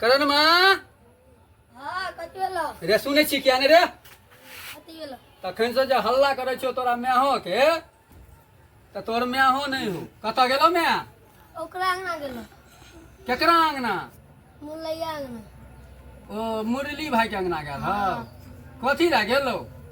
करण माँ हाँ कथी भेलो रे सुनै छी किया ने रे कथी भेलो तखन से जे हल्ला करै छौ तोरा माहो के तऽ तोर माहो नहि हो कतऽ गेलो माय ओकरा अंगना गेलो केकरा अंगना मुलैया अंगना ओ मुरली भाई के अंगना गेल हौ कथी लए गेलो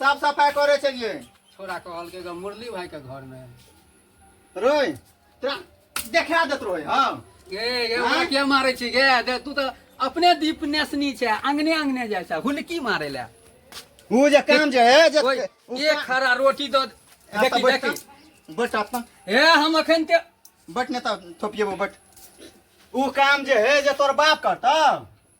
साफ सफाई करे छलिए छोरा कहल के मुरली भाई के घर में रोय तोरा देखा देत रोय हां गे गे हमरा के मारे छी गे दे तू त अपने दीप नेसनी छै अंगने अंगने जाय छै हुलकी मारे ले उ जे काम जे है जे एक खरा रोटी द देखी देखी बट अपन ए हम अखन ते बट ने त थोपिएबो बट उ काम जे है जे तोर बाप करता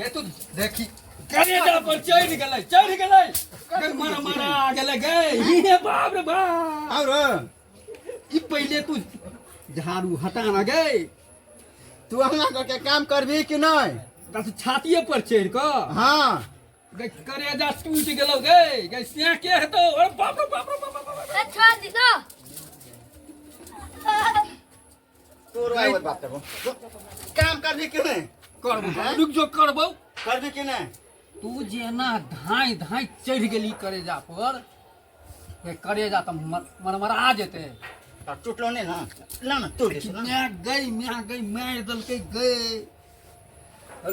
गे तू देखी करेजा पर चढ़ गेलै चढ़ गेलै अगर मारा मारा आ गेलै गए हे बाप रे बाप और ई पहिले तू झाड़ू हटा ना गए तू हमरा सबके काम करबी कि नहि ता तू छातिए पर चढ़ क हाँ गए करेजा टूट गेलौ गए गए से के हेतौ अरे बाप रे बाप रे बाप रे, बाप रे। अच्छा जी ना तोरो आइ ओत बात करबो काम करबी कि नहि करबो हैं? रुक जो करबो करबी कि नहि तू जेना धाँइ धाँइ चढ़ि गेली करेजा पर से करेजा तऽ मर- मरमरा जेतै तऽ टुटलो नहि ने ला ने तोड़ दै छी, ला ने। माय गई माय गई मारि देलकै गई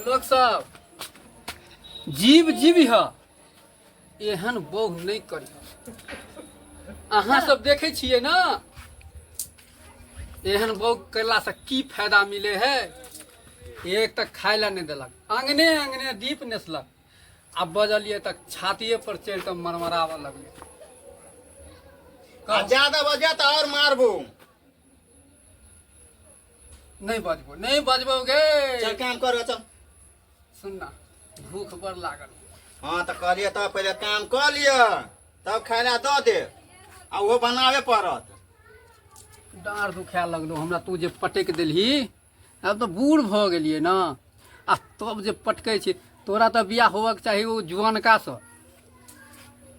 लोक सब जीव जीव ह एहन बौह नहि करी अहाँ सब देखे छियै ना एहन बौह करला से की फायदा मिले है एक तक खाय ला नहि देलक अंगने अंगने दीप नेसलक आ बजलिए तक छातिए पर चढ़ि कऽ मरमराबऽ लगलै आ ज्यादा बजा तो और मारबो नहि बजबो नहि बजबो गे चल काम करो चल सुन ना भूख बड़ लागल हाँ तो कहलिए तब पहले काम कर लिया तब खायला दऽ दे आ ओहो बनाबे पड़त डाँड़ दुखाए लगलो हमरा तू जे पटकि देलही आब तऽ बूढ़ भऽ गेलियै ने आ तब जे पटकै छी तोरा तऽ बियाह होबक चाही ओ जुअनकासँ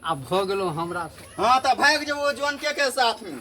आ भऽ गेलो हमरासँ हाँ तो भाग जेबो जनके के साथ में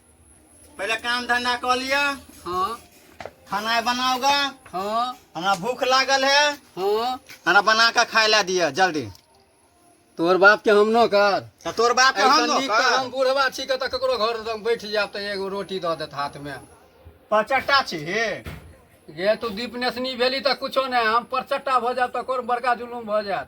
पहिले काम धंधा कऽ लिअ हाँ खाना बनाओ गा हाँ हमरा भूख लागल है हाँ हमरा बना के खाए ला दिअ जल्दी तोर बाप के हम न कर तऽ तोर बाप के हम ऐसन न नीक कर। तऽ हम बूढ़वा छी के तऽ ककरो घर हम बैठ जायब तऽ एगो रोटी दऽ देत हाथ में पचट्टा छी हे गे तू दीप नेसनी भेली तऽ कुछो नहि हम परचट्टा भऽ जायब तऽ कोन बड़का जुलूम भऽ जायत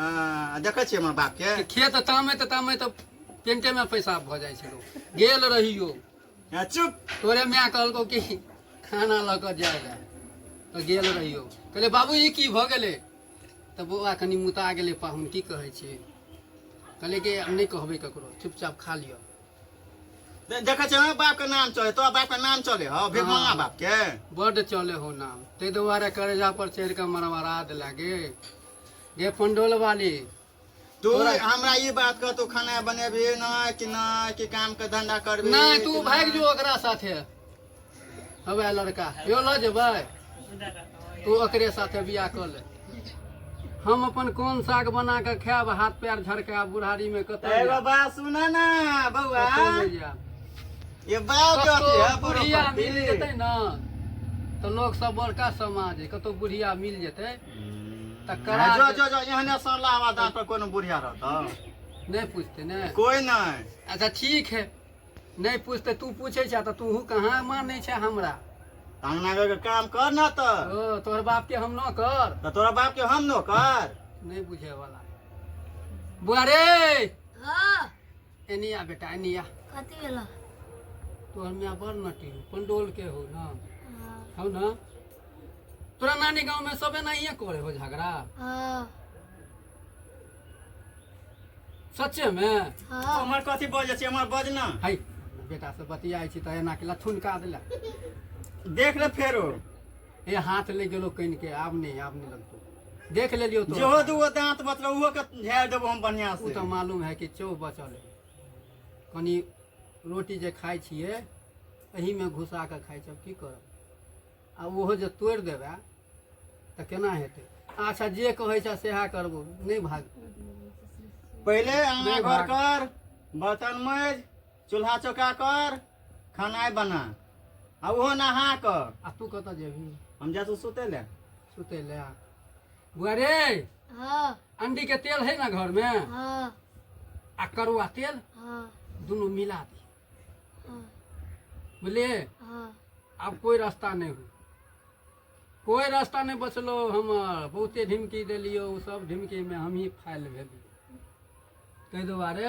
आ, देखै छियै हमर बाप के खेत तामे तऽ तामे तऽ पेंटे में पैसा भऽ जाइ छै लोग गेल रहियो आ, चुप तोरे माय कहलको कि खाना लऽ कऽ जाय लए तऽ गेल रहियो कहले बाबू ई की भऽ गेलै तऽ बौआ कनि मुता गेलै पाहुन की कहै छी कहले कि हम नहि कहबै ककरो चुपचाप खा लिअ दे- देखै छियै हमर बाप के नाम चले तोरा बाप के नाम चले हौ भिखमंगा हाँ। बाप के बड्ड चले हो नाम ताहि दुआरे करेजा पर चढ़ि कऽ मरमरा देला गे गे पंडोल वाली तू हमरा ई बात कह तू खाना बनेबी ना कि ना कि काम के धंधा करबी नहीं तू भाग जो ओकरा साथे हवे लड़का यो ल जेबै तू ओकरे साथे बियाह कर ले हम अपन कोन साग बना के खायब हाथ पैर झड़का बुढ़ारी में कतौ ए बाबा सुन ना बौआ ये बात कथी है बुढ़िया मिल जेतै ना तो लोग सब बड़का समाज है कतौ बुढ़िया मिल जेतै तकर आ, जो बाद जो जो एहने सरला आवाज दाँत पर कोनो बुढ़िया रहता नहि पूछते ने कोई नहीं अच्छा ठीक है नहि पूछते तू पूछे छा तऽ तूहू कहाँ मानै छा हमरा अंगना घर के काम कर ना तो ओ तोहर बाप के हम न कर तो तोरा बाप के हम नो कर नहि बुझे वाला बुआ रे हाँ एनी आ बेटा एनी आ कथी भेलो तो हम यहाँ बड़ नटी हो पंडोल के हो ना हाँ हो ना तोरा नानी गांव में सबे नहीं करे हो झगड़ा हाँ सच्चे में हाँ हमर कथी बजै छै हमर बज ना हाय बेटा से बतियाई छी तऽ एना के लथुन का देला देख ले फेरो ए हाथ ले गेलो कनि के आब नहीं आब नहीं लगतो देख लेलियो तो जेहो दूगो दांत बचलो उहो के झाड़ देबो हम बढ़िया उ से तो मालूम है कि चौ बचल है कनी रोटी जे खाइ छिए एही में घुसा के खाइ छी अब की करब आ ओहो जे तोड़ि देबै तऽ केना हेतै अच्छा जे कहै छै सएह करबो नहि भाग पहिले आना नहीं घर भाग। कर बर्तन मज चूल्हा चौका कर खानाय बना आ ओहो नहा कऽ आ तू कतऽ जेबही हम जा तू सुते ले सुते ले बुआरे हाँ अंडी के तेल है ना घर में हाँ आ करुआ तेल हाँ दोनों मिला दी हाँ बुझलिए हाँ अब कोई रास्ता नहीं हो कोई रास्ता नहीं बचलो हम बहुते ढिमकी दिलियो उ सब ढिमकी में हम ही फाइल भेलियो ताहि दुआरे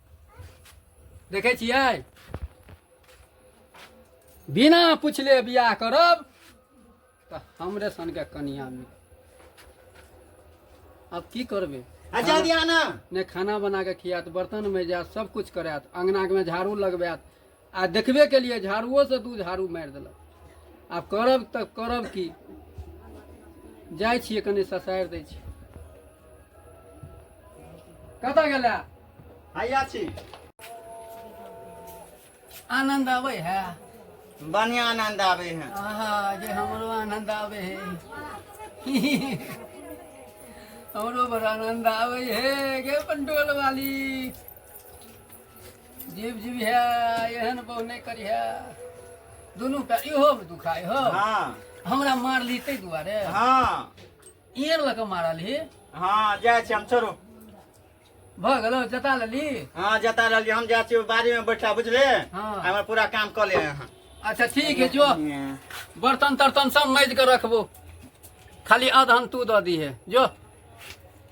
देखै छियै बिना पुछले बियाह करब तऽ हमरे सनके कनिया मिल आब की करबै अच्छा दिया ना ने खाना बना कऽ खियात बर्तन में जायत सब कुछ करायत अंगना में झाड़ू लगबायत आ देखबे केलियै झाड़ूओसँ दू झाड़ू मारि देलक आब करब तऽ करब की जाइ छियै कनि ससारि दै छी कतऽ गेला हैया छी आनन्द आबै है बढ़िया आनंद आवे है आहा जे हमरो आनन्द आबै है हमरो बड़ आनन्द आबै है गे पंडोल वाली जीव जीव है एहन बहु नहीं करी है दोनों का इहो दुखाई हो हाँ हमरा मार ली ते दुआरे हाँ इयर लग मारल ही हाँ जाए छी हम चलो भ गेलो जता लेली हाँ जता रहलियै हम जाइ छियै बाड़ी में बैठा बुझले हाँ। हमर पूरा काम कऽ ले अहाँ अच्छा ठीक है जो बर्तन तर्तन सब मैज के रखबो खाली अदहन तू दऽ दी है जो